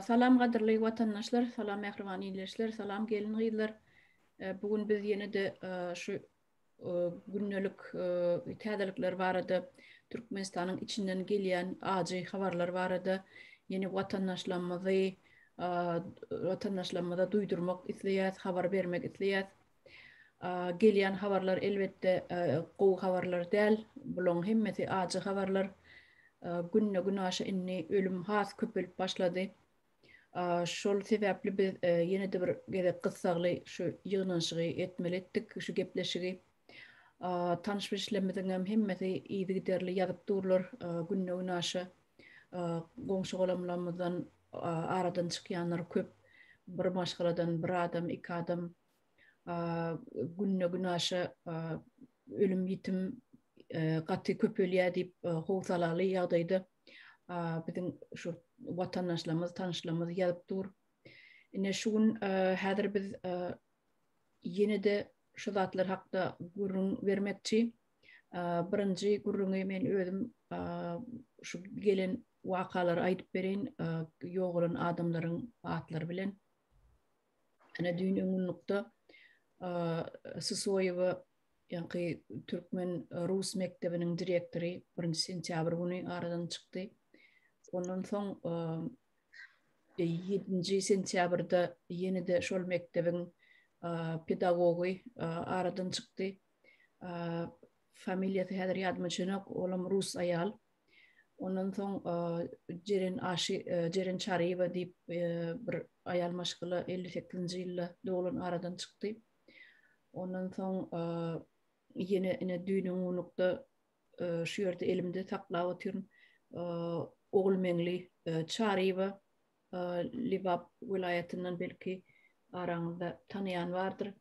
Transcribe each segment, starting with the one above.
Salam gadyrly watandaşlar, salam mähriban ildeşler, salam gelin gyzlar. Bu gün biz ýene-de şu gündelik täzelikler barada, Türkmenistanyň içinden gelýän ajy habarlar barada ýene watandaşlarymyzy, watandaşlarymyza duýdurmak isleýäs, habar bermek isleýäs. Gelýän habarlar elbetde gowy habarlar däl. Bulaň hemmesi ajy habarlar. Günde günaşa indi ölüm has köpelip başlady. Şol sebäpli biz ýene-de bir gezek gyssagly şu ýygnanyşygy etmeli etdik, şu gepleşigi. Tanyş-bilişlerimiziň hem hemmesi yzygiderli ýazyp durlar. Günde günaşa goňşy-golamlarymyzdan aradan çykýanlar köp. Bir maşgaladan bir adam, iki adam. günde günaşa ölüm ýitim gaty köpelýär diýip howsalaly ýagdaýda biziň şu watandaşlarymyz tanyşlarymyz ýazyp dur. Ine şu gün häzir biz ýene-de şu zatlar hakda gürrüň bermekçi. Birinji gürrüňi men özüm şu gelen wakalary aýdyp bereýin, ýogalan adamlaryň atlary bilen. Ene düýn öňňunlukda Susoýewa ýaňky türkmen rus mekdebiniň direktory birinji sentýabr güni aradan çykdy. Ondan soň ýedinji sentýabrda ýene-de şol mekdebiň pedagogy aradan çykdy. Familiýasy häzir ýadyma düşenok, olam rus aýal. Ondan soň Jeren Aşy Jeren Çaryýewa diýip bir aýal maşgala elli sekizinji ýylda doglan aradan çykdy. Ondan soň ýene ine düýnüňunlukda şu ýerde elimde saklap otyryn Ogulmeňli Çaryýewa Lebap welaýatyndan belki araňyzda tanaýan bardyr.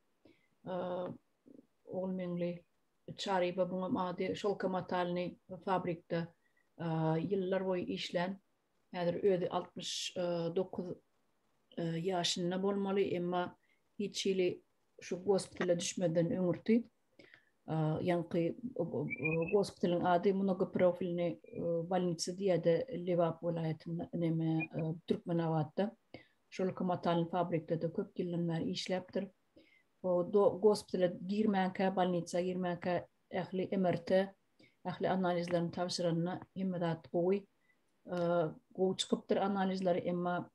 Ogulmeňli Çaryba buňam ady Şolka matalny fabrikde ýyllar boýy işlän, häzir özi altmyş dokuz ýaşynda bolmaly, emma hiç hili şu gospitala düşmeden öňürti ýaňky gospitalyň ady Mnogoprofilny bolnitsa diýýärdi Lebap welaýatynda neme Türkmenabatda. Şolka matalny fabrikde-de köp ýyldan bäri işläpdir. do gospitala girmänkä, bolnitsa girmänkä ähli MRT, ähli analizlerini tabşyranyna hemme zat gowy. Gowy çykypdyr analizleri, emma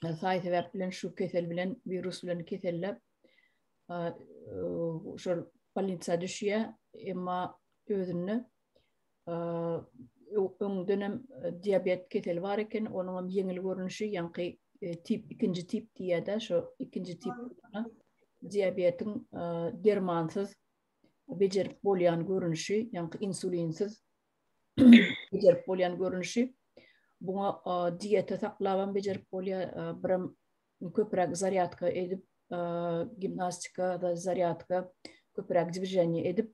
saý sebäp bilen şu kesel bilen, wirus bilen keselle şol bolnitsa düşýär, emma özünde öňdenem diabet keseli bar eken, onuň hem ýeňil görnüşi, ýaňky tip, ikinji tip diýýär-de, şo ikinji tip diabetiň dermansyz bejerip bolýan görnüşi, ýaňky insulinsiz bejerip bolýan görnüşi. Buňa dieta saklabam bejerip bolýar, birem köpüräk zarýadka edip, gimnastika, zarýadka, köpüräk dwiženiýe edip,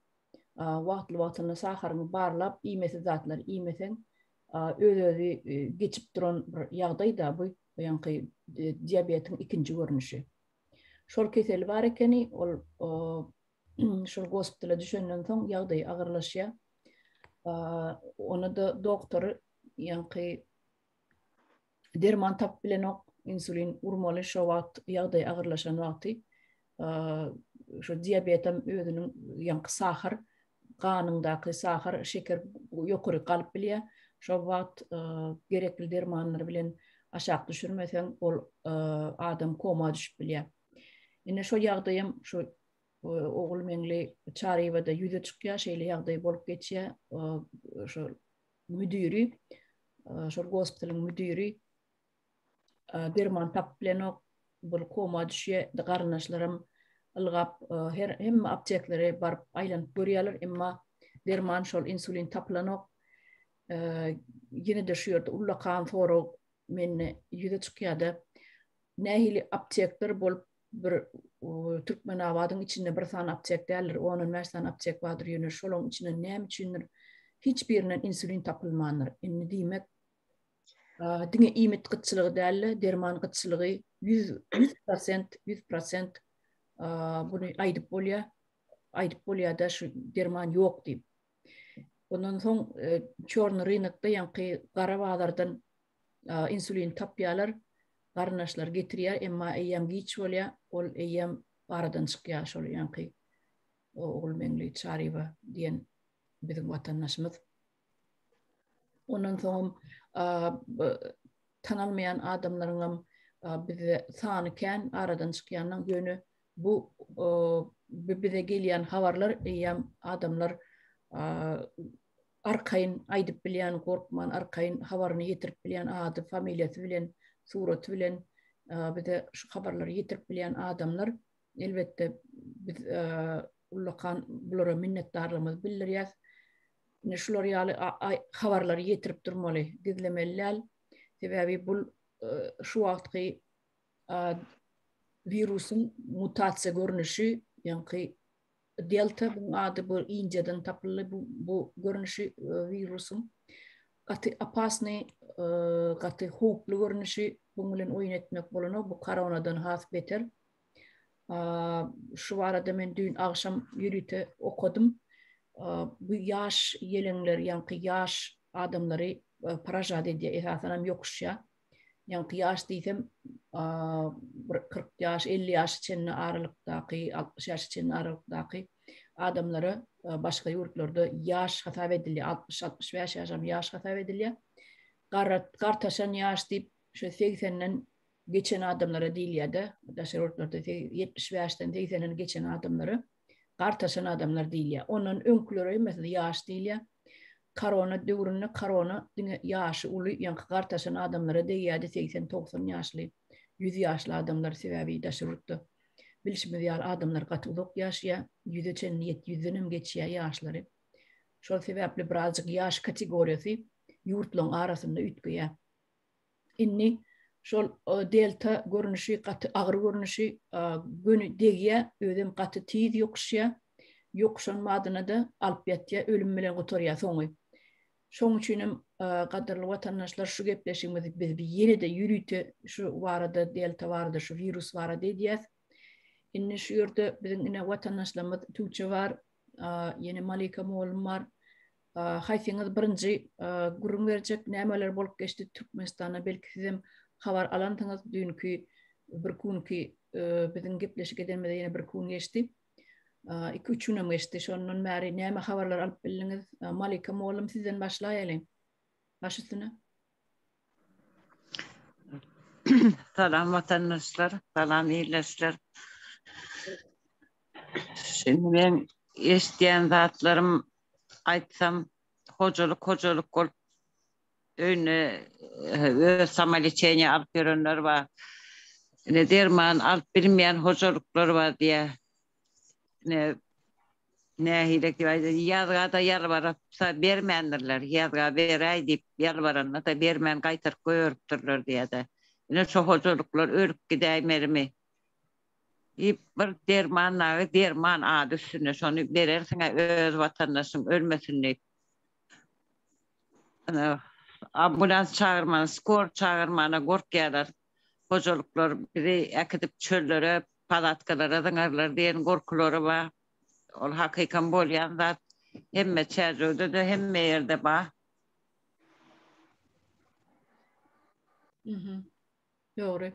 wagtly-wagtynda şaharyňy barlap, iýmesiz zatlary iýmeseň, öz-özi geçip duran bir ýagdaý-da bu, ýaňky diabetiň ikinji görnüşi. Şol keseli bar ekeni, ol şol gospitala düşenden soň ýagdaýy agyrlaşýar. Ony-da doktory ýaňky derman tapyp bilenok insulin urmaly şo wagt ýagdaý agyrlaşan wagty şu diabetem özüniň ýaňky sahar ganyňdaky sahar şeker ýokary galyp bilýär şo wagt gerekli dermanlar bilen aşak düşürmeseň ol adam koma düşüp bilýär indi şo ýagdaýam şu ogul meňli çaryýewada ýüze çykýar şeýle ýagdaý bolup geçýär şo müdiri, şol gospitalyň müdiri derman tapyp bilenok, bir koma düşýä, garyndaşlarym ylgap, her hemme apteklere baryp aýlanyp görýärler, emma derman şol insulin tapylanok. Ýene-de şu ýerde ullakan sorag mende ýüze çykýar-da, nähili aptekler bolup bir Türkmenabadyň içinde bir sany aptek däldir, on-on bäş sany aptek bardyr, ýöne şolaň içinden näme üçindir hiç birinden insulin tapylmandyr. Indi diýmek, diňe iýmit gytçylygy däl-de, derman gytçylygy ýüz ýüz prosent, ýüz prosent buny aýdyp bolýar, aýdyp bolýar-da şu derman ýok diýip. Ondan soň çorny rynokda ýaňky gara bazardan insulin tapýarlar, garyndaşlar getirýär, emma eýýäm giç bolýar, ol eýýäm aradan çykýar şol ýaňky Ogulmeňli Çaryýewa diýen biziň watandaşymyz. Ondan soňam tanalmaýan adamlaryňam bizde sany kän aradan çykýanyň ýöne Bu bize gelýän habarlar eýýäm adamlar arkaýyn aýdyp bilýän, gorkman arkaýyn habaryny ýetirip bilýän ady, familiýasy bilen, suraty bilen bize şu habarlary ýetirip bilýän adamlar elbetde biz ullakan bulara minnetdarlygymyzy bildirýäs. Ine şular ýaly habarlary ýetirip durmaly, gizlemeli däl. Sebäbi bu şu wagtky wirusyň mutasiýa görnüşi, ýaňky delta bu ady bu Indiýadan tapyldy bu bu görnüşi wirusyň. Gaty opasny, gaty howply görnüşi, buň bilen oýun etmek bolanok, bu koronadan has beter. Şu barada men düýn agşam ýörite okadym. Bu ýaş ýeleňler, ýaňky ýaş adamlary paražat edýär, esasanam ýokuşýar. ýaňky ýaş diýsem bir kyrk ýaş elli ýaşa çenli aralykdaky altmyş ýaşa çenli aralykdaky adamlara başga ýurtlarda ýaş hasap edilýär altmyş altmyş bäş ýaşam ýaş hasap edilýär garat gartaşan ýaş diýip şu segsenden geçen adamlara diýilýärde daşary ýurtlarda ýetmiş bäşden segsenden geçen adamlara gartaşan adamlar diýilýär. Ondan öňküleri, meselem, ýaş diýilýär. Korona döwründe korona diňe ýaşy uly, ýaňky gartaşan adamlara degýärdi, segsen-togsan ýaşly, ýüz ýaşly adamlar, sebäbi daşary ýurtda bilşimiz ýaly adamlar gaty uzak ýaşaýar, ýüze çenli ýet, ýüzden hem geçýär ýaşlary. Şol sebäpli birazjyk ýaş kategoriýasy ýurtlaryň arasynda üýtgeýär. Indi şol delta görnüşi gaty agyr görnüşi göni degýär, özem gaty tiz ýokuşýar. Ýokuşan badyna-da alyp ýatýar, ölüm bilen gutarýar soňy. Şoň üçin hem, gadyrly watandaşlar, şu gepleşigimizi biz ýene-de ýörite şu barada, delta barada, şu wirus barada edýäs. Indi şu ýerde biziň ine watandaşlarymyz Tuça bar, ýene Malika mugallym bar. Haýsyňyz birinji gürrüň berjek, nämeler bolup geçdi Türkmenistanda belki sizem habar alansyňyz düýnki bir günki biziň gepleşik edenimize ýene bir gün geçdi. Iki üç günem geçdi. Şondan bäri näme habarlar alyp bildiňiz? Malika mugallym sizden başlaýalyň. Baş üstüne. Salam watandaşlar, salam ildeşler. Şindi meň eşidýän zatlarym aýtsam hojalyk hojalyk bolup öýüne öz samolečeniýe alyp ýörenler bar. Ine derman alyp bilmeýän hojalyklar bar diýýär. ne nähile ýazgada ýalbarypsa bermändirler ýazga beräý diýip ýalbaranda-da bermän gaýtaryp goýberipdirler diýýär-de ine şo hojalyklar ölüp gidäýmelimi diýip bir derman dagy derman ady üstünde şony berersiň-ä öz watandaşyň ölmesin diýip ambulans çagyrmana skor çagyrmana gorkýarlar hojalyklar bizi äkidip çöllere, palatkalara zyňarlar diýen gorkulary bar. Ol hakykam bolýan zat. Hemme çärjewde-de, hemme ýerde bar. Dogry.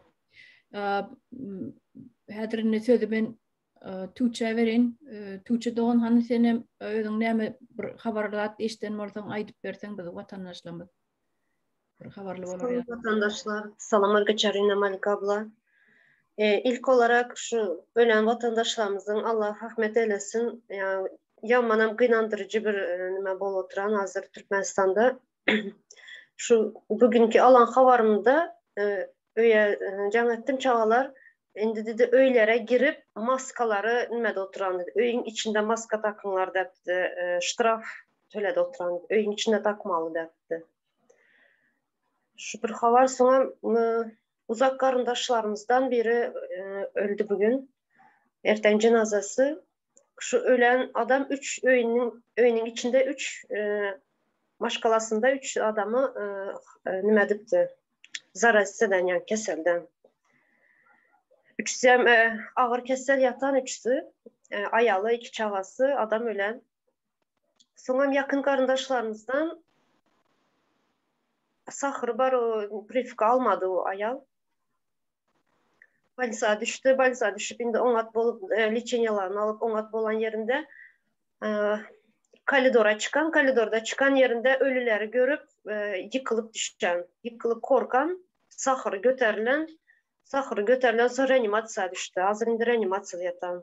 Häzir indi sözi men Tuçe berin. Tuçe dogan hany sen hem özüň näme bir habarlat işden bolsaň aýdyp berseň biz watandaşlarymyz. Bir habarly bolar ya. Watandaşlar, salam Algaçarina Malikabla. E, ilk olarak şu ölen vatandaşlarymyzyň Allah rahmet eylesin. Yani yamanam gynandyrycı bir e, nime bol oturan hazır Türkmenistanda. Şu bu günki alan habarymda e, öýe e, jaň etdim çagalar indi dedi öýlere girip maskalary nimede oturan dedi. Öýüň içinde maska takynlar depdi. E, ştraf töledi oturan. Öýüň içinde takmaly depdi. Şu bir habar soňa uzak garyndaşlarymyzdan biri e, öldi bugün. Erten jenazasy şu ölen adam üç öýüniň öýüniň içinde üç maşgalasynda üç adamy nima edipdi zarazeden yani keselden üçüsi hem ağır kesel yatan üçüsi aýaly iki çagasy adam ölen Soňam ýakyn garyndaşlarymyzdan sahyry bar, o prifka almady o aýal. Bolnisa düşdi, bolnisa düşüp indi oňat bolup e, liçeniýalaryny alyp oňat bolan ýerinde e, koridora çykan, koridorda çykan ýerinde ölüleri görüp e, ýykylyp düşen, ýykylyp korkan, sahyry göterilen, sahyry göterilen soň reanimasiýa düşdi. Hazir indi reanimasiýada ýatan.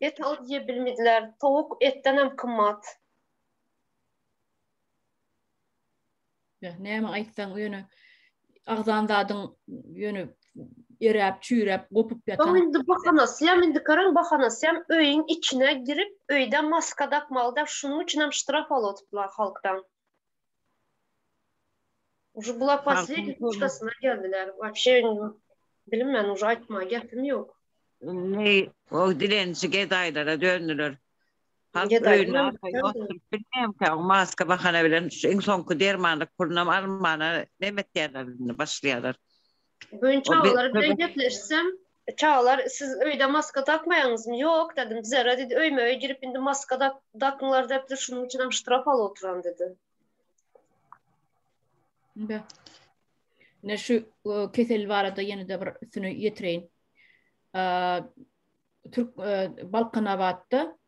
Et al diýe bilmediler. Towuk etden hem kymmat. Ya, näme aýtsaň ýöne agzan zadyň ýöne eräp, çüýräp, gopup ýatan. Soň indi bahanasy hem indi görüň bahanasy hem öýüň içine girip, öýde maska dakmalyda şunuň üçin hem ştraf alyp oturdylar halkdan. Uje bular posledniý nuşdasyna geldiler. Wapşe indi bilinmän uje aýtmaga gepim ýok. Indi o dilençi gedaýlara döndüler. Halk öýünde arka ýok durup bilmeýänkä o maska bahana bilen iň soňky dermanlyk pulunam almana näme etýärler indi başlaýarlar. Gün çagalar bilen gepleşsem, çagalar siz öýde maska dakmaýaňyzmy? Ýok dedim. Zerre dedi, öýme-öý girip indi maska dak, dakyňlar depdir, şunuň üçin hem ştraf alyp oturan dedi. Be. Ne şu e, kesel barada ýene de bir üstüne ýetireýin. Türk e, Balkanabatda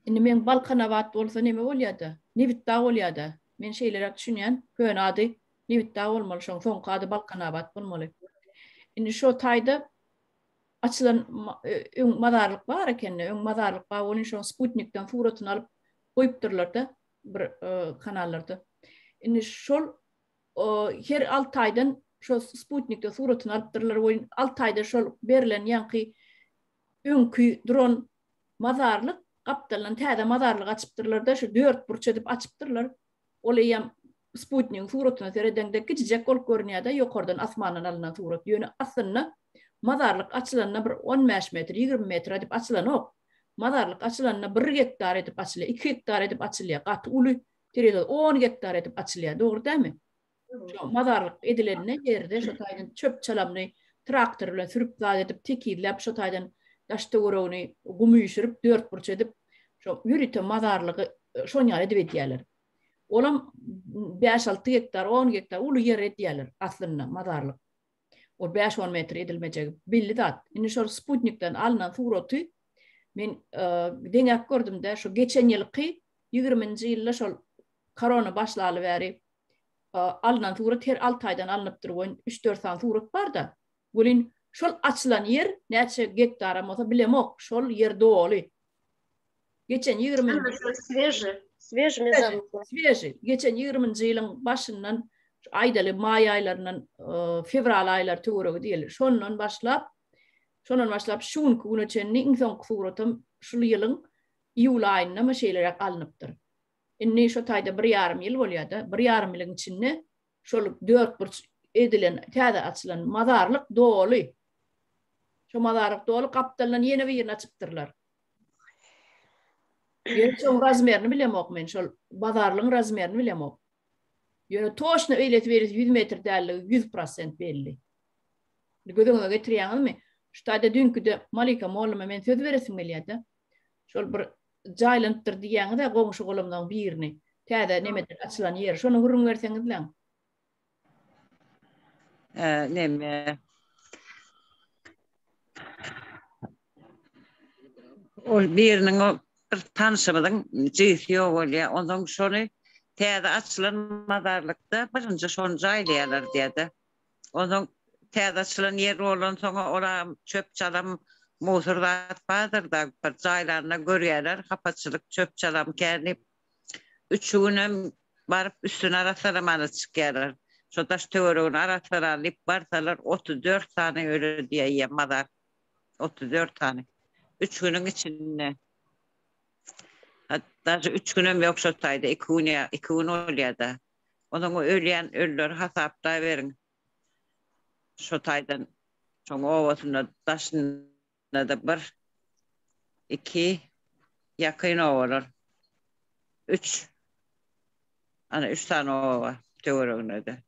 Indi men Balkanabat bolsa neme bolýada? Nebitdag bolýada. Men şeýleräk düşünýän. Köne ady Nebitdag bolmaly, şoň soňky ady Balkanabat bolmaly. Indi şo taýda açylan öň mazarlyk bar ekende, öň mazarlyk bar bolyn şoň sputnikden suratyny alyp goýupdyrlarda bir kanallarda. Indi şol her Altaýdan şo sputnikde suratyny alypdyrlar we Altaýda şol berlen ýaňky öňki duran mazarlyk gapdalyndan täze mazarlyk açypdyrlar-da, şu dört burç edip açypdyrlar. Ol eýýäm sputnigiň suratyna seredeňde kiçijek bolup görünýär-de, ýokardan asmandan alnan surat. Ýöne aslynda mazarlyk açylanda bir on bäş metr, ýigrimi metr edip açylanok. Mazarlyk açylanda bir gektar edip açylýar, iki gektar edip açylýar. Gaty uly, terezada on gektar edip açylýar. Dogry dälmi? Şo mazarlyk edilende ýerde şo taýdan çöp-çalamyny traktor bilen sürüp zat edip, tekizläp şo taýdan daş-töweregini gum üýşürip, dörtburç edip, şo ýörite mazarlygy şoň ýaly edip edýärler. Olam bäş-alty gektar, on gektar uly ýer edýärler aslynda mazarlyk. Ol bäş-on metr edilmejegi belli zat. Indi şol sputnikden alnan suraty men deňäp gördüm-de, şo geçen ýylky ýigriminji ýylda şol korona başlaly bäri alnan surat her alty aýdan alnypdyr welin üç dört sany surat barda welin şol açylan ýer näçe gektaram bolsa bilemok şol ýer doly geçen ýigrimi sveži sveži mezarlyklar sveži geçen ýigriminji ýylyň başyndan aýdaly maý aýlaryndan e, fewral aýlary töweregi diýeli şondan başlap şondan başlap şu günki güne çenli iň soňky suratam şul ýylyň iýul aýynda mı şeýleräk alnypdyr Indi şu taýda bir ýarym ýyl bolýar-da, bir ýarym ýylyň içinde şol dörtburç edilen, täze açylan mazarlyk doly. Şu mazarlyk doly gapdalyndan ýene birini açypdyrlar. Ýöne şoň razmerini bilemok men, şol bazarlygyň razmerini bilemok. Ýöne toşna eýlesi beýlesi ýüz metr däldigi ýüz prosent belli. Göz öňüňe getirýäňizmi? Şu taýda düýnküde Malika molluma men söz beresim gelýär-de. Şol bir jaýlanypdyr diýýäňizä goňşy-golamlaň birini. Täze nemedir açylan ýeri. Şony gürrüň berseňizläň. Neme? Ol biriniň o bir tanşymyzyň jigisi ýok bolýa. Onsoň şony täze açylan mazarlykda birinji şony jaýlaýarlar diýýä-de. Onsoň täze açylan ýer bolansoň-a ora çöp-çalam, musor zat bardyr-da, bir jaýlanda görýärler, hapaçylyk, çöp-çalam kän diýip, üçi günem baryp üstüni arassalamana çykýarlar. Şo daş-töweregini arassalaly diýip barsalar, otuz dört sany öli diýýär mazar. Otuz dört sany. Üç günüň içinde. Daşy üç günem ýok şo taýda, iki gün ýa iki gün bolýar-da. Onuň ölýän ölüleri hasaplaberiň. Şo taýdan şoň obasynda daşynda-da bir, iki, ýakyn obalar, üç, ana üç sany oba töwereginde-de.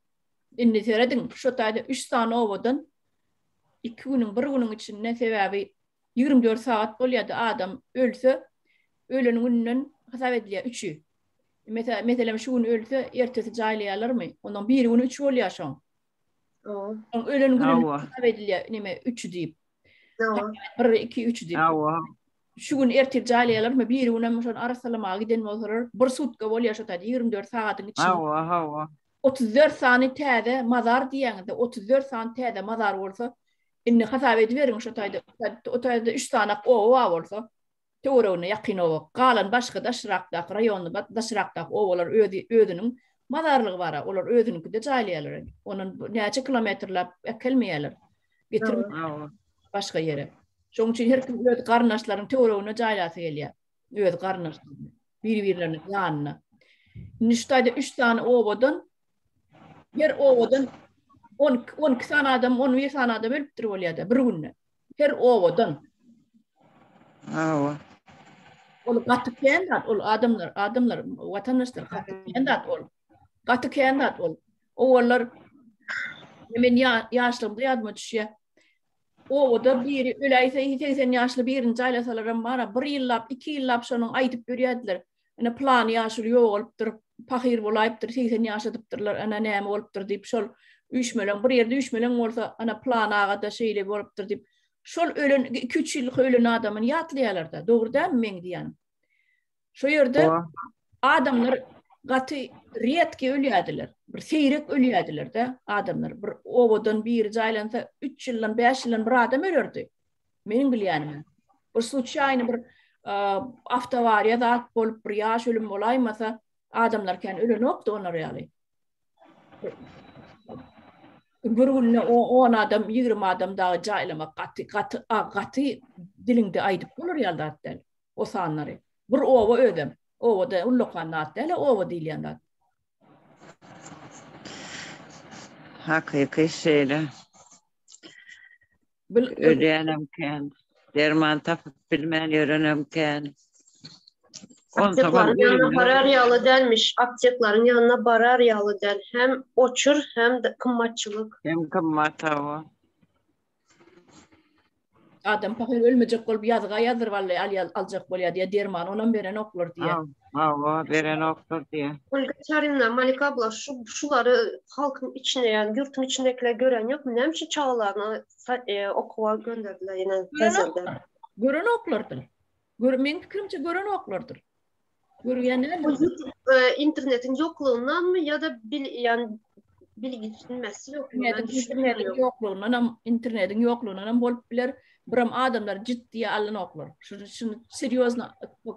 Indi serediň, şo taýda üç sany obadan iki günüň, bir günüň içinde, sebäbi Ýigrimi dört sagat bolýardy adam ölse ölen gününden hasap edilýär üçi. Meselem meselem şu gün ölse ertesi jaýlaýarlarmy? Ondan biri güni üç bolýar şoň. Oň ölen gününden hasap edilýär neme üçi diýip. Bir iki üç diýip. Şu gün ertir jaýlaýarlarmy? Biri günem şony arassalamaga giden bolsalar bir sutka bolýar şo taýda ýigrimi dört sagatyň içinde. Hawa hawa. Otuz dört sany täze mazar diýýäňizde otuz dört sany täze mazar bolsa Indi hasap ediberiň şo taýda, o taýda üç sanak oba bar bolsa, töweregine ýakyn oba, galan başga daşrakdaky raýonda, daşrakdaky obalar özi, özüniň mazarlygy bar-a, olar özüniňkide jaýlaýarlar, ondan näçe kilometrläp äkelmeýärler, getirmeýärler başga ýere. Şonuň üçin her kim öz garyndaşlarynyň töweregine jaýlasy gelýär, öz garyndaşlarynyň, bir-birleriniň ýanyna. Indi şu taýda üç sany obadan Her owadan 12 sany adam, 11 sany adam ölüpdir bolýar-da bir günde. Her owadan. Hawa. Ol gaty kän zat, ol adamlar, adamlar, watandaşlar gaty kän zat ol. Gaty kän zat ol. Owallar men ýaşlygymda ýadyma düşýär. Owada biri öläýse 80 ýaşly birini jaýlasalaram bar, bir ýyllap, iki ýyllap şonuň aýdyp ýörýärdiler. Ene plan ýaşuly ýogalypdyr, pahyr bolaýypdyr, 80 ýaşadypdyrlar, ana näme bolupdyr diýip şol üýşmeleň bir ýerde üýşmeleň bolsa, ana plan agada şeýle bolupdyr diýip, şol ölen 2-3 ýyllyk ölen adamyny ýatlaýarlar-da, dogry dälmi meň diýýänim? Şo ýerde adamlar gaty riýetki ölýärdiler. Bir seýrek ölýärdiler-de adamlar. Bir owadan biri jaýlansa 3 ýyldan, 5 ýyldan bir adam ölerdi. Meniň bilýänime. Bir suçýaýny bir awtowariýa zat bolup bir ýaş ölüm bolaýmasa, adamlar kän ölenokdy olar ýaly. Bir günde 10 adam, 20 adam dagy jaýlamak gaty gaty gaty diliňde aýdyp bolar ýaly zat däl. O sanlary. Bir oba özem. Obada ullakan zat däl, oba diýilýän zat. Hakyky şeýle. Bil, ölýänem kän. Derman tapyp bilmän ýörenem kän. Apteklaryň ýanyna barar ýaly dälmiş. Apteklaryň ýanyna barar ýaly däl. Hem oçur, hem kymmatçylyk. Hem kymmat hawa. Adam pahyr ölmejek bolup ýazga ýazdyryp alýar, aljak bolýar diýýär, derman onam berenoklar diýýär. Hawa, berenokdyr diýýä. Olgaçarina, Malika abla, şu şulary halkyň içinde, ýagny ýurtun içindekiler gören ýokmy? Näme üçin çagalaryny sa e, okuwa gönderdiler ýene hezirde? Görenoklardyr. Gör, meň pikirimçe görenoklardyr. Görýän däldir. Bu ýurtda e, internetiň ýoklugyndanmy ýa-da bil, ýagny Bilgilenmesi ýok. Internetiň ýoklugyndan hem, internetiň ýoklugyndan hem bolup biler. Biram adamlar jiddiýe alynoklar. Şuny şuny serýozno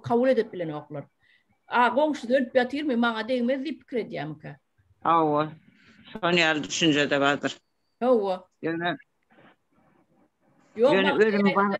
kabul edip bilenoklar. A goňşusy ölüp ýatyrmy, maňa degmez diýip pikir edýärmikä? Hawa. Şonuň ýaly düşünje-de bardyr. Hawa. Ýöne Ýöne ölüm bar.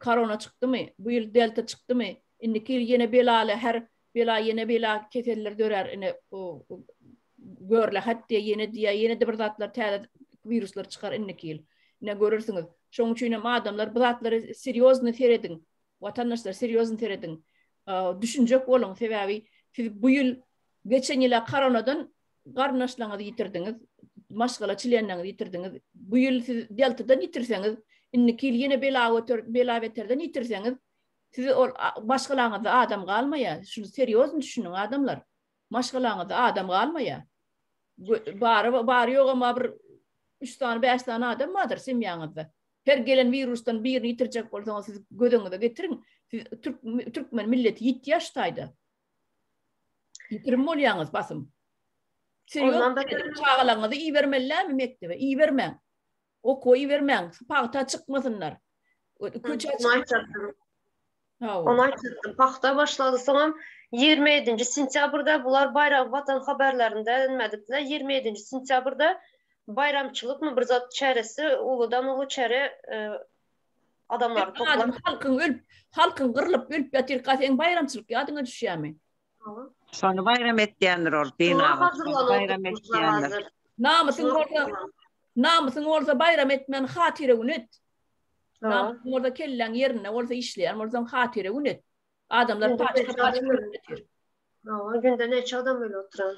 Korona çykdymy, bu ýyl delta çykdymy, indiki ýyl ýene belaly her bela ýene bela keseller dörär ine görle hat diýe ýene diýe ýene-de bir zatlar täze wiruslar çykar indiki ýyl ine görersiňiz şoň üçin hem adamlar bu zatlary serýozny serediň watandaşlar serýozny serediň düşünjek boluň sebäbi siz bu ýyl geçen ýyla koronadan garyndaşlaryňyzy ýitirdiňiz, maşgala çlenleriňizi ýitirdiňiz, bu ýyl siz ýaltadan ýitirseňiz, indiki ýyl ýene bela göter, bela-beterden ýitirseňiz, siz ol maşgalaňyzda adam galmaýar. Şuny serýozny düşüniň, adamlar. Maşgalaňyzda adam galmaýar. Bary, bary ýogy emma bir üç sany, bäş sany adam bardyr semýaňyzda. Her gelen wirusdan birini ýitirjek bolsaňyz, siz gözüňize getiriň, siz türk, türkmen milleti ýitýär şu taýda. Ýitirim bolýaňyz basym. Ondan da çagalaňyzy ibermelilämi mekdebe? Ibermäň. Okuwa ibermäň. Pagta çykmasynlar. Köçä çykmasynlar. Onu aýtdym. Pagta başlady. Soňam 27-nji sentýabrda bular baýram watan habarlarynda nädipdiler? 27-nji sentýabrda baýramçylykmy bir zat çäresi uludan uly çäre e, Adamlar toplan. Halkyň ölüp, halkyň gyrlyp, ölüp ýatyr, ka seň baýramçylyk ýadyňa düşýämi? Şony baýram etýändir ol, baýram etýändir. Namysyň bolsa, namysyň bolsa baýram etmän hatyra gün et. Namysyň bolsa kelläň ýerinde bolsa işleýän bolsaň hatyra gün et. Adamlar paçka paçka bolup ýatyr. Hawa, günde näçe adam öli oturan.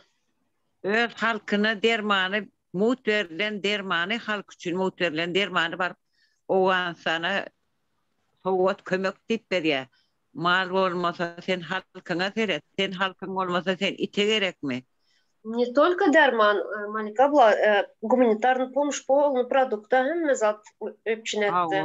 Öz halkyna dermany mugt berlen dermany halk üçin mugt berlen dermany baryp Owganystana sowgat kömek diýip berýä. Mal bolmasa sen halkyňa seret, sen halkyň bolmasa sen ite gerekmi. Ne tolko derman Malika abla, gumanitarny pomuş polny produkta hemme zat üpjün etdi.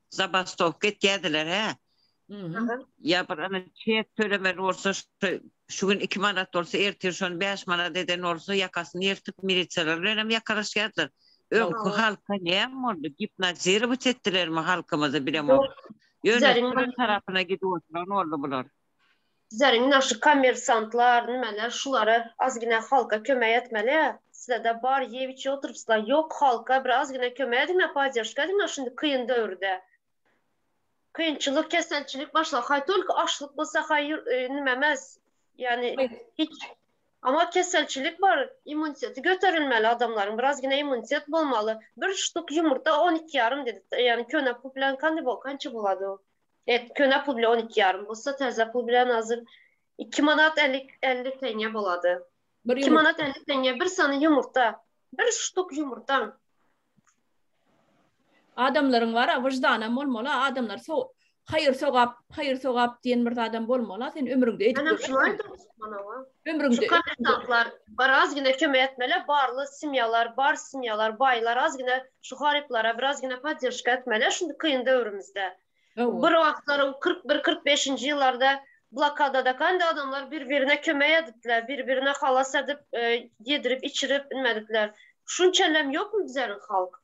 Zabastowka etýärdiler hä. Ýa bir ene çek tölemeli bolsa şu gün iki manat bolsa ertir şony bäş manat eden bolsa ýakasyny ýyrtyp milisiýalar bilenem ýakalaşýardylar. Öňki halka näme boldy gipnozirowat etdilermi halkymyzy bilemok. Ýöne tarapyna gidip oturan boldy bular. Bizleriň naşy kommersantlar, nimeler şulara azgina halka kömek etmeli. Sizede bar ýep içip oturypsla, ýok halka bir azgina kömek ediňa, podderşka ediňa şindi kyn döwürde. Kynçylyk, keselçilik başla haý tolko açlyk bolsa haý nime emes. Ýani hiç Ama keselçilik bar, immuniteti göterilmeli adamlaryň, bir azgina immunitet bolmaly. Bir ştuk ýumurta on iki ýarym dedi, ýani köne pul bilen kande bol, kança bolady o. Et köne pul bilen on iki ýarym bolsa, täze pul bilen hazir iki manat elli elli tenge bolady. Bir Iki ýumurtga. manat elli tenge bir sany ýumurta. Bir ştuk ýumurtaň. Adamlaryň bar-a, wyždanam bolmaly-a, adamlar so haýyr-sogap, haýyr-sogap diýen bir zadam bolmaly-a, sen ömrüňde edip Menem şuny görmedimiň? aýdym tutman-awa. Ömrüňde Çykan bar az gine kömek etmeli barly simyalar bar simyalar baylar az gine şu haryplara biraz gine padyryşka etmeli şundi kyn döwrümizde bir wagtlaryň kyrk bir kyrk beşinji ýyllarda blokada da kanda adamlar bir birine kömek edipler bir birine halas edip e, yedirip içirip inmedikler şunçalem ýokmy bizleriň halk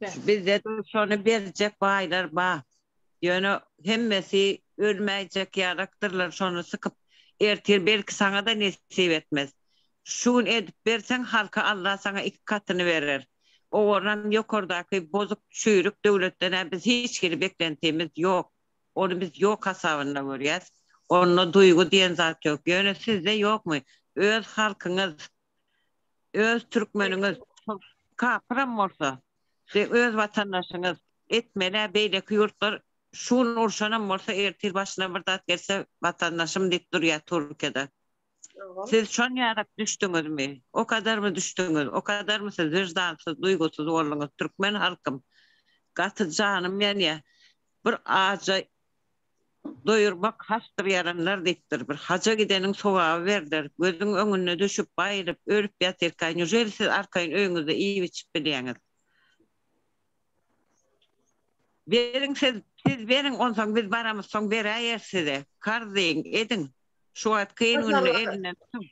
Bizde şony berjek baýlar ba, ýöne hemmesi ölmäýjek ýarakdyrlar şony sykyp ertir belki saňada nesip etmez. Şu gün edip berseň halka Allah saňa iki katyny berer. Owarnam ýokardaky bozuk çüýrük döwletdenä biz hiç hili beklentimiz ýok. Ony biz ýok hasabynda görýäs. Onda duýgy diýen zat ýok. Ýöne sizde ýokmy? Öz halkyňyz öz türkmeniňiz kapyram bolsa siz öz watandaşyňyz etmelä beýleki ýurtlar şu gün urşanam bolsa ertir başyna bir zat gelse watandaşym diýip durýa turkiýada siz şonýarak düşdüňizmi okadarmy düşdüňiz okadarmy siz wyždansyz duýgusyz bolduňyz türkmen halkym gaty janym ýanýa bir aja doýurmak hasdyr ýaranlar diýipdir. Bir haja gideniň sogaby berler. Gözüň öňünde düşüp, baýryp, ölüp ýatyrka, nüjeli siz arkaýyn öýüňizde iýip-içip bilýäňiz? Beriň siz, siz beriň, onsoň biz baramyz, soň beräýeris size. Karz diýiň, ediň. Şu wagt kyn günde elinden tutuň.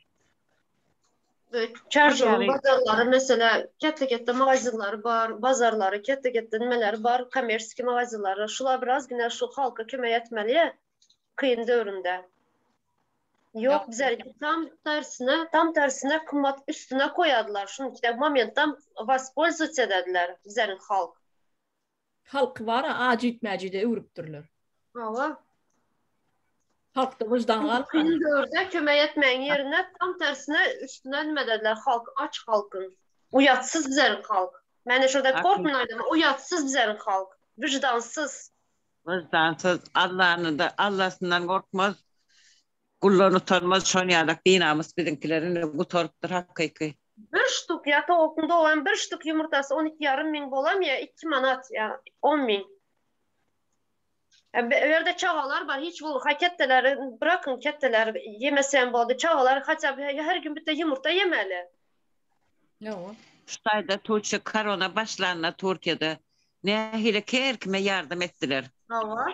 Çarşambaň bazarlary meselä ketde-ketde magazinlary bar, bazarlary ketde-ketde nimeleri bar, kommersiýa magazinlary. Şular biraz gine şu halka kömek etmeli kyn döwründe. Ýok bize tam tersine, tam tersine kymmat üstüne koýadylar. Şunuň üçin momentdan waspolzwatsa edediler bizeniň halk. Halky bara ajit-mäjide öwrüpdirler. Hawa. Halkda wyždan galmady. Kyn döwürde kömek etmegiň ýerine tam tersine üstüne nime dediler, halk, aç halkyň. Uýatsyz bizeriň halk. Mende şurada korkmyn aýdama, uýatsyz bizeriň halk. Wyždansyz. Wyždansyz. Allany-da, Allasyndan gorkmaz. Guldan utanmaz şon ýalak dinamys biziňkiler indi gutarypdyr hakyky. Bir ştuk ýa towukyň dogan bir ştuk ýumurtasy on iki ýarym müň bolam ýa iki manat ýa on müň. Bu ýerde çagalar bar hiç bolmasa ketdeleri brakyň ketdeleri ýemese hem boldy çagalar haçan her gün bite ýumurta ýemeli. Ýoga. Şu taýda tuçe karona başlanda turkiýada nähili her kime ýardam etdiler. Hawa.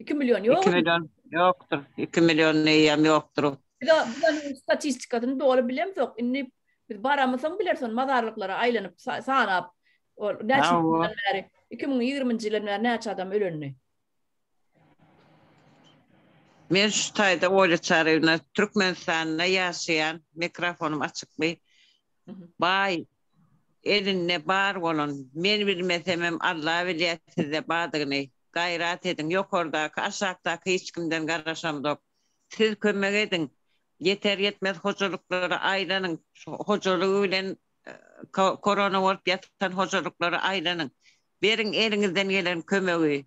2 million ýok. 2 million ýokdur. 2 million neýem ýokdur. Biz bu statistikasyny doly bilemzok. Indi biz baramysyň biler son mazarlyklara aýlanyp sanap. Ol näçe ýyldan bäri 2020-nji ýyldan bäri näçe adam ölendi? Men şu taýda oýlaçaryn. Türkmenistanda ýaşaýan mikrofonym açykmy? Baý, elinde bar bolan, men bilmesemem Alla bilýä sizde badygyny, gaýrat ediň, ýokardaky, aşakdaky hiç kimden garaşamzok. Siz kömek ediň, ýeter-ýetmez hojalyklara aýlanyň, hojalygy bilen korona bolup ýatan hojalyklara aýlanyň, beriň eliňizden gelen kömegi.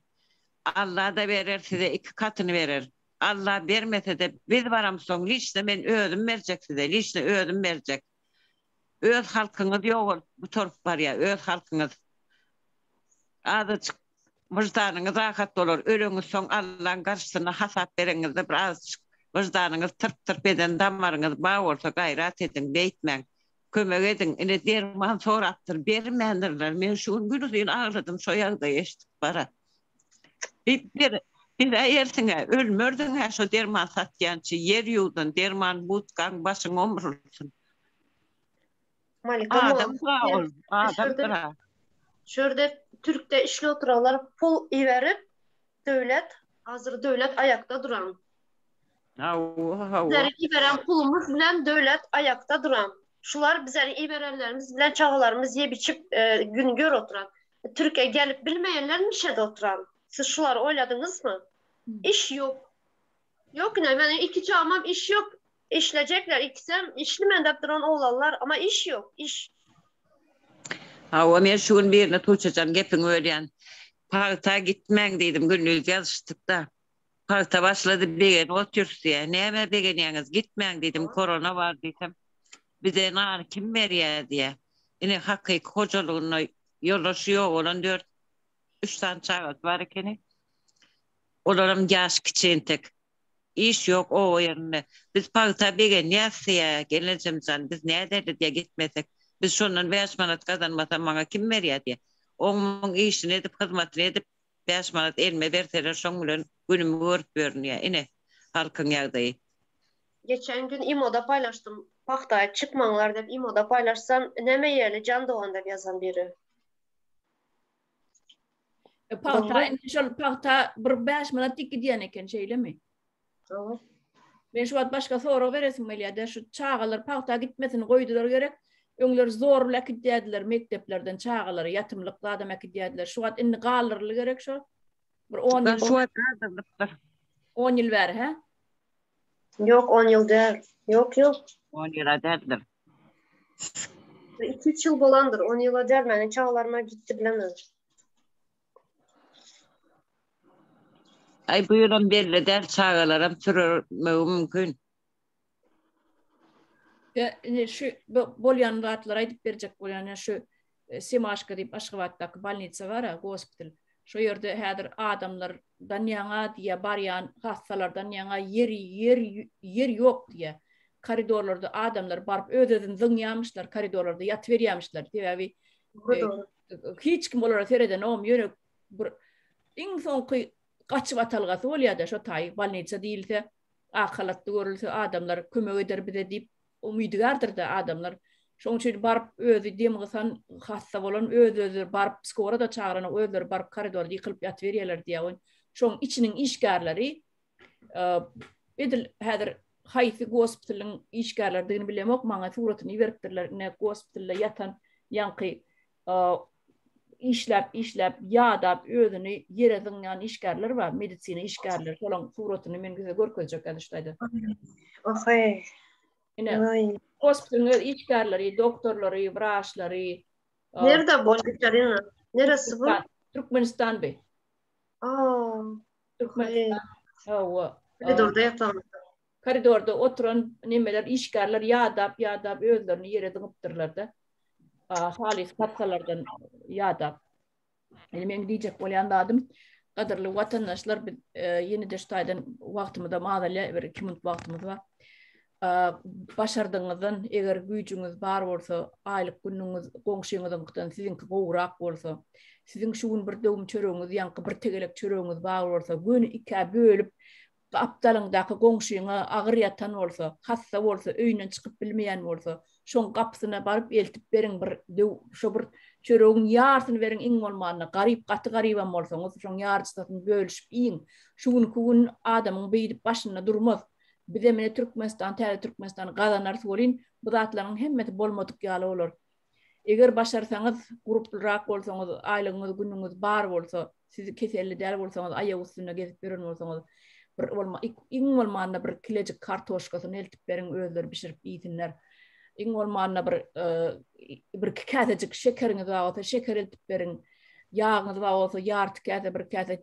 Alla-da berer, size iki katyny berer. Alla bermesede biz baram soň liçno men özüm berjek size liçno özüm berjek öz halkyňyz ýogalyp gutaryp barýar öz halkyňyz azajyk wyždanyňyz rahat bolar öleňiz soň Allaň garşysyna hasap bereňizde bir azajyk wyždanyňyz tyrp tyrp eden damaryňyz ba bolsa gaýrat ediň beýtmäň kömek ediň ine derman sorapdyr bermändirler men şu gün günuzyn agladym şo ýagdaýy eşdip bara. Ber, ber-ä ersiňe, ölmersiň-ä şo derman satýança, ýer ýuwdan, derman budkaň başyň omrulsyn. Malika mol, Adam sag ol, adamdyr-a. Şurda türkde işli oturanlar pul iberip, Döwlet, Azr Döwlet aýakda duran. Hawa, hawa. Bizleriň iberen pulumyz bilen Döwlet aýakda duran. Şular bizleriň iberenlerimiz bilen çagalarymyz ýep-içip, gün gör oturan. Türkiýä gelip bilmeýänler niçede oturan? Siz şulary oýladyňyzmy? Iş ýok. Ýok ine meniň iki çagamam iş ýok. Işlejekler ikisem işli mendep duran oglanlar ama iş ýok iş. Hawa men şu gün birine Tuçejan gepiňi bölýän. Pagta gitmäň diýdim gündiz ýazyşdykda. Pagta başlady begenip otyrys diýýär. Nämä begenýäňiz, gitmäň diýdim, korona bar diýsem, bize nany kim berýär diýýär. Ine, hakyky hojalygynda ýoldaşy ýok bolan dört, üç sany çagasy bar ekeni. Olaram ýaşy kiçi entek. Iş ýok oba ýerinde. Biz pagta begenýäris diýýär, gelnejem jan, biz näderli diýýär, gitmesek. Biz şondan bäş manat gazanmasam, maňa kim berýär diýýär. On muň işini edip, hyzmatyny edip, Bäş manat elime berseler şoň bilen günümi görüp ýörün ýa ine halkyň ýagdaýy. Geçen gün imoda paýlaşdym pagta aýyp çykmaňlar dep imoda paýlaşsam näme ýerli jan dogan dep ýazan biri. Pagta indi şol pagta bir bäş manat dik gidýän eken şeýlemi. Jogap. Men şu wagt başga sorag beresim gelýärdi. Şu çagalar pagta gitmesini goýdular gerek. Öňler zor bilen äkidýärdiler mekdeplerden çagalary, ýatymlyk zadam äkidýärdiler. Şu wagt indi galdyryldy gerek şo. Bir on ýyl. Şu wagt galdyrlypdyr. On ýyl bäri, hä? Ýok, on ýyl däl. Ýok, ýok. On ýyla däldir. Bir iki-üç ýyl bolandyr. On ýyla däl. Meniň çagalaryma gitdi bilemez. Ay bu ýylam belli däl çagalaram sürmegi mümkin. Ya indi şu bolýan zatlary aýdyp berjek bolýan ya şu e, Simaşka diýip Aşgabatdaky bolnitsa bar ha, gospital. Şu ýerde häzir adamlardan ýaňa diýä barýan hassalardan ýaňa ýer ýer ýer ýok diýä. Koridorlarda adamlar baryp öz-özüni zyňýarmyşlar, koridorlarda ýatyberýärmişler. Sebäbi e, hiç kim olara seredenom, ýöne bir iň soňky gaçyp atalgasy bolýar-da, şo taý bolnisa diýilse, ak halatly görülse, adamlar kömek eder bize diýip umydygärdir-de adamlar. Şonuň üçin baryp özi dem gysan, hassa bolan öz-özleri baryp skora-da çagyranyok, özleri baryp koridorda ýykylyp ýatyberýärler diýýär. Şoň içiniň işgärleri Edil häzir haýsy gospitaliň işgärleridigini bilemok, maňa suratyny iberipdirler, ine gospitalda ýatan ýaňky işläp, işläp ýadap özüni ýere zyňýan işgärler bar, medisina işgärleri, şolaň suratyny men size görkezjek häzir şu taýda. Ohoý. Ine, gospitaliň öz işgärleri, doktorlary, wraçlary. Nirde bolýar, Karina? Neresi bu? Türkmenistan bi. Aa. Hawa. Koridorda ýatan. Koridorda oturan nemeler, işgärler ýadap, ýadap özlerini ýere zyňypdyrlar-da. Halys patsalardan ýadap. Indi meň diýjek bolýan zadym, gadyrly watandaşlar, biz ýene-de şu taýdan wagtymyzam az ele, bir iki minut wagtymyz bar. başardygyňyzdan eger güýjüňiz bar bolsa, aýlyk günüňiz goňşyňyzyňkydan siziňki gowrak bolsa, siziň şu gün bir döwüm çöregiňiz, ýaňky bir tegelek çöregiňiz bar bolsa, göni ikä bölüp, gapdalyňdaky goňşyňa agyr ýatan bolsa, hassa bolsa, öýünden çykyp bilmeýän bolsa, şoň gapysyna baryp eltip beriň, bir döw şo bir çöregiň ýarysyny beriň, iň bolmanda, garyp, gaty garybam bolsaňyz, şoň ýaryjysyny bölüşip iýiň. Şu günki gün adamyň beýdip başynda durmaz. Bize mine Türkmenistan, täze Türkmenistan gazanarys welin, bu zatlaryň hemmesi bolmadyk ýaly bolar. Eger başarsaňyz, guruplyrak bolsaňyz, aýlygyňyz, günüňiz bar bolsa, siz keselli däl bolsaňyz, aýak üstünde gezip ýören bolsaňyz, bir bolma, iň bolmanda bir kilejik kartoşkasyny eltip beriň, özleri bişirip iýsinler. Iň bolmanda bir e, bir iki käsejik şekeriňiz bar bolsa, şeker eltip beriň. Ýagyňyz bar bolsa, ýarty käse, bir käse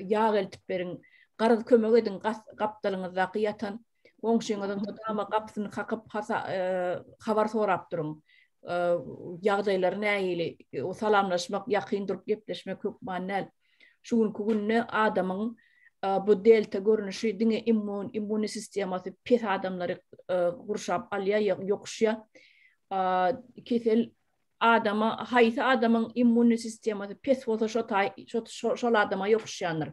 ýag eltip beriň. Garaz kömek ediň, gapdalyňyzdaky ýatan goňşyňyzyň mydama gapysyny kakyp, habar sorap duruň. Ýagdaýlary nähili? Salamlaşmak, ýakyn durup gepleşmek hökman däl. Şu günki günde adamyň bu delta görnüşi diňe immun, immunny sistemasy pes adamlary gurşap alýar, ýokuşýar. Kesel adama haýsy adamyň immunny sistemasy pes bolsa şo taý şol adama ýokuşýandyr.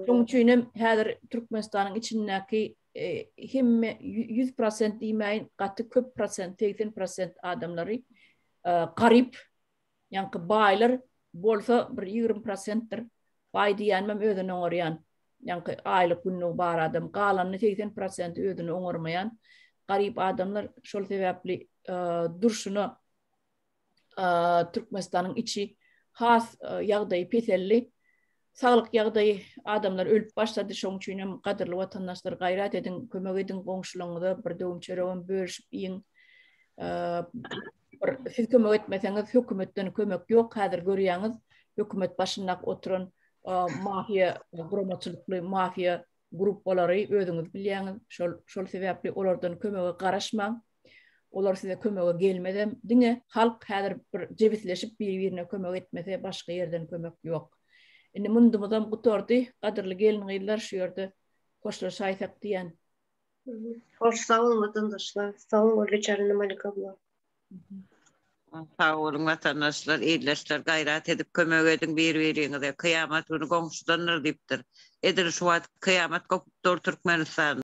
Şoň üçin hem häzir Türkmenistanyň içindäki e, hemme 100% diýmäýin, gaty köp prosent, 80% adamlary e, garyp, ýaňky baýlar bolsa bir 20%dir. Baý diýýänim özüni oňarýan. ýaňky aýlyk günligi bar adam galanyny segsen prosenti özüni oňarmaýan garyp adamlar şol sebäpli durşuna Türkmenistanyň içi has ýagdaýy peselli saglyk ýagdaýy adamlar ölüp başlady şoň üçin hem gadyrly watandaşlar gaýrat ediň kömek ediň goňşularyňyza bir döwüm çöregem bölüşip iýiň Bir siz kömek etmeseňiz hökümetden kömek ýok häzir görýäňiz hökümet başynda oturan mafiýa guramaçylykly mafiýa gruppalary özüňiz bilýäňiz şol şol sebäpli olardan kömege garaşmaň olar size kömege gelmezem diňe halk häzir bir jebisleşip bir birine kömek etmese başga ýerden kömek ýok indi mundumyzam gutardy gadyrly gelin gyzlar şu ýerde hoşlaşaýsak diýen Hoş sag olun vatandaşlar. Sag olun Gürleçaryn Malik abla. Sag olun vatandaşlar, ildeşler gaýrat edip kömek ediň bir-biriňize. Kyýamat güni goňşudandyr diýipdir. Edil şu wagt kyýamat gopup dur Türkmenistanda.